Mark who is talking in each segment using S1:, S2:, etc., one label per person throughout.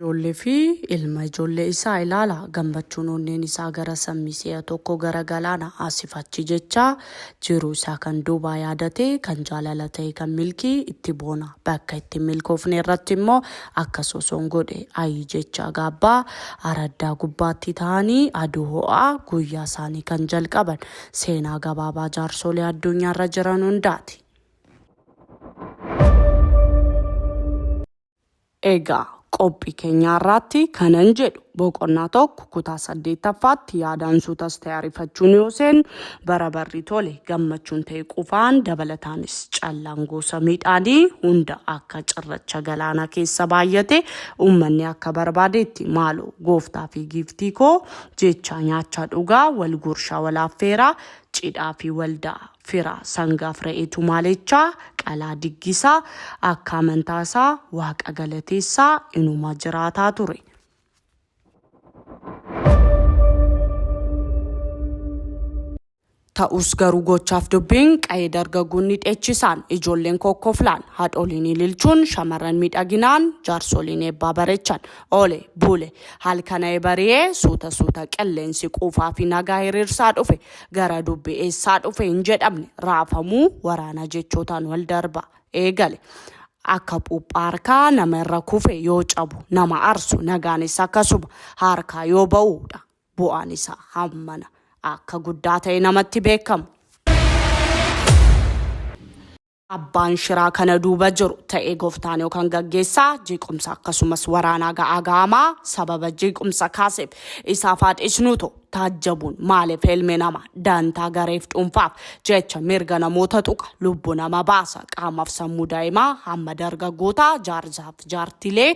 S1: Ijoollee fi ilma ijoollee isaa ilaala. Gammachuun onneen isaa gara sammii si'a tokko gara galaana asif achi jechaa jiruu isaa kan duubaa yaadatee kan jaalala ta'e kan milkii itti boona. Bakka itti hin milkoofne irratti immoo akka sosoon godhe ayii jechaa gaabbaa araddaa gubbaatti taa'anii aduu ho'aa guyyaa isaanii kan jalqaban. Seenaa gabaabaa jaarsoolee addunyaarra jiran hundaati. Egaa qophi kenyaa irraatti kanan jedhu boqonnaa tokko kutaa saddeettaffaatti yaadaan suutas ta'e arifachuun yoo seennu bara barri tole gammachuun ta'e qufaan dabalataanis callaan gosa midhaanii hunda akka cirracha galaanaa keessa baay'ate uummanni akka barbaadeetti maaloo gooftaa fi giiftii koo jechaa nyaachaa dhugaa wal gurshaa wal affeeraa cidhaa fi waldaa Fira, sangaaf re'ee tumaaleechaa, qalaa diggisaa, akka amantaa isaa Waaqa galateessaa inuma jiraataa ture. Ta'us garuu gochaaf dubbiin qa'ee dargaggoonni dheechisaan, ijoolleen kokkoflaan, haadholiin ililchuun, shamarran miidhaginaan, jaarsoliin eebbaa bareechan. Oole, bule, halkana'ee bari'ee suuta suuta qilleensi quufaa fi nagaa hiriirsaa dhufe. Gara dubbi eessaa dhufe hin jedhamne raafamuu waraanaa jechootaan wal darba eegale. Akka phuuphaa harkaa nama irra kufe yoo cabu nama arsu nagaanis akkasuma harkaa yoo ba'u dha. Bu'aan isaa hammana akka guddaa ta'e namatti beekama. Abbaan shiraa kana duuba jiru, ta'ee goftaan yookaan gaggeessaa, jeequmsa akkasumas waraanaa ga'aa ga'amaa sababa jeequmsa kaaseef isaaf haa dhiisnuuto, taajjabuun maaliif ilmi nama dantaa gareef dhuunfaaf jecha mirga namoota tuqa, lubbu nama baasa, qaamaf sammuu daa'imaa hamma dargaggootaa, jaarsaaf jaartilee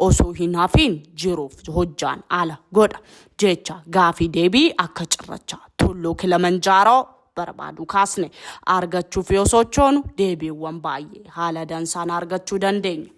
S1: osoo hin hafiin jiruuf hojjaan ala godha jecha gaafii deebii akka cirracha tulluu Kilimanjaaroo. barbaadu kaasne argachuuf yoo sochoonu deebiiwwan baay'ee haala dansaan argachuu dandeenya.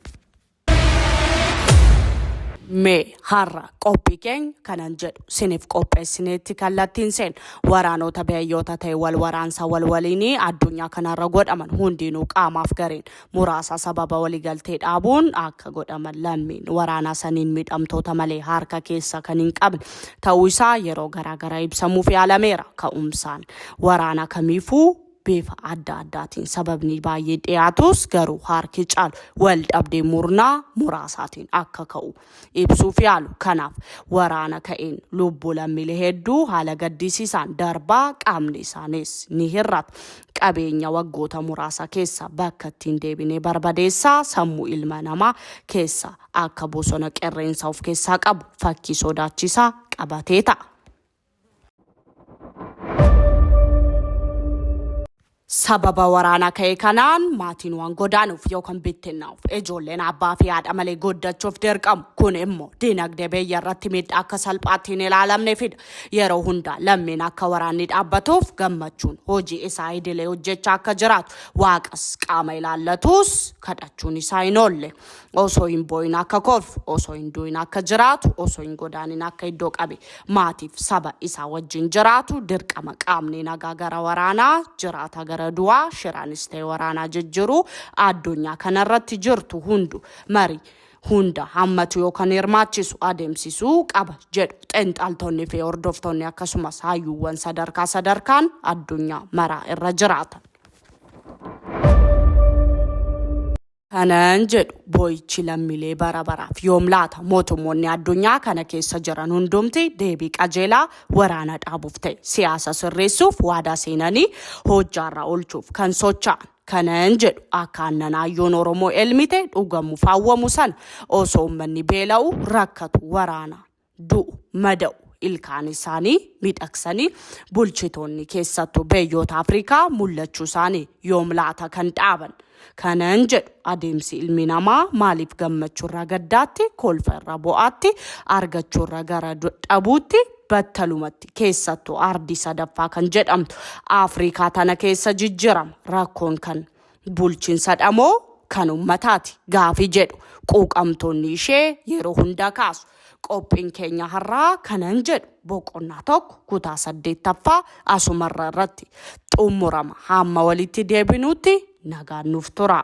S1: Mee har'a qophii keenya kanan jedhu siniif qopheessineetti kallattiin seen waraanoota biyyoota ta'e wal waraansa wal waliinii addunyaa kanarra godhaman hundiinuu qaamaaf gareen muraasa sababa waligaltee dhaabuun akka godhaman lammiin waraanaa saniin miidhamtoota malee harka keessa kan hin qabne ta'uu isaa yeroo garaagaraa ibsamuuf yaalameera. Ka'umsaan waraana kamiifuu bifa adda addaatiin sababni baay'ee dhiyaatus garuu harki caalu wal dhabdee murnaa muraasaatiin akka ka'u ibsuuf yaalu. Kanaaf waraana ka'een lubbuu lammiilee hedduu haala gaddisiisaan darbaa qaamni isaaniis ni hir'ata. Qabeenya waggoota muraasa keessa bakka ittiin deebinee barbadeessaa sammuu ilma namaa keessa akka bosona qerreensa of keessaa qabu fakkii sodaachisaa qabatee ta'a. Sababa waraana ka'e kanaan maatiin waan godaanuuf yookaan bittinnaa'uuf ijoolleen abbaa fi haadha malee goddachuuf dirqamu. Kun immoo dinagdee biyya irratti miidhaa akka salphaatti hin ilaalamne fida. Yeroo hundaa lammiin akka waraanni dhaabbatuuf gammachuun hojii isaa idilee hojjechaa akka jiraatu waaqas qaama ilaallatus kadhachuun isaa hin oolle. osoo hin boo'in akka kolfu osoo hin du'in akka jiraatu osoo hin godaanin akka iddoo qabe maatiif saba isaa wajjin jiraatu dirqama qaamni nagaa gara waraanaa jiraataa gara du'aa shiraanis ta'e waraanaa jijjiruu addunyaa kanarratti jirtu hundu marii hunda hammatu yookaan hirmaachisu adeemsisuu qaba jedhu xinxaltoonni fi hordoftoonni akkasumas hayyuuwwan sadarkaa sadarkaan addunyaa maraa irra jiraatan. Kanan jedhu boo'ichi lammilee bara baraaf yoom laata? Mootummoonni addunyaa kana keessa jiran hundumti deebii qajeelaa waraana dhaabuuf ta'e siyaasa sirreessuuf waadaa seenanii hojjaarra oolchuuf kan socha'an. Kanan jedhu akka aannan aayyoon Oromoo elmite dhugamuuf hawwamu sana osoo ummanni beela'u, rakkatu, waraanaan. du'u, mada'u, ilkaan isaanii miidhagsanii bulchitoonni keessattu beyyoota Afrikaa mul'achuu isaanii yoom laata kan dhaaban? Kanan jedhu adeemsi ilmi namaa maaliif gammachuu irraa gaddaatti, kolfa irraa bo'aatti, argachuu irraa gara dhabuutti battalumatti keessattu ardii sadaffaa kan jedhamtu Afrikaa tana keessa jijjirama rakkoon kan bulchinsadha moo kan ummataati gaafii jedhu quuqamtoonni ishee yeroo hundaa kaasu. Qophiin keenya har'aa kanan jedhu boqonnaa tokko kutaa saddeettaffaa asumarra irratti xumurama. Hamma walitti deebinuutti nagaan nuuf tura.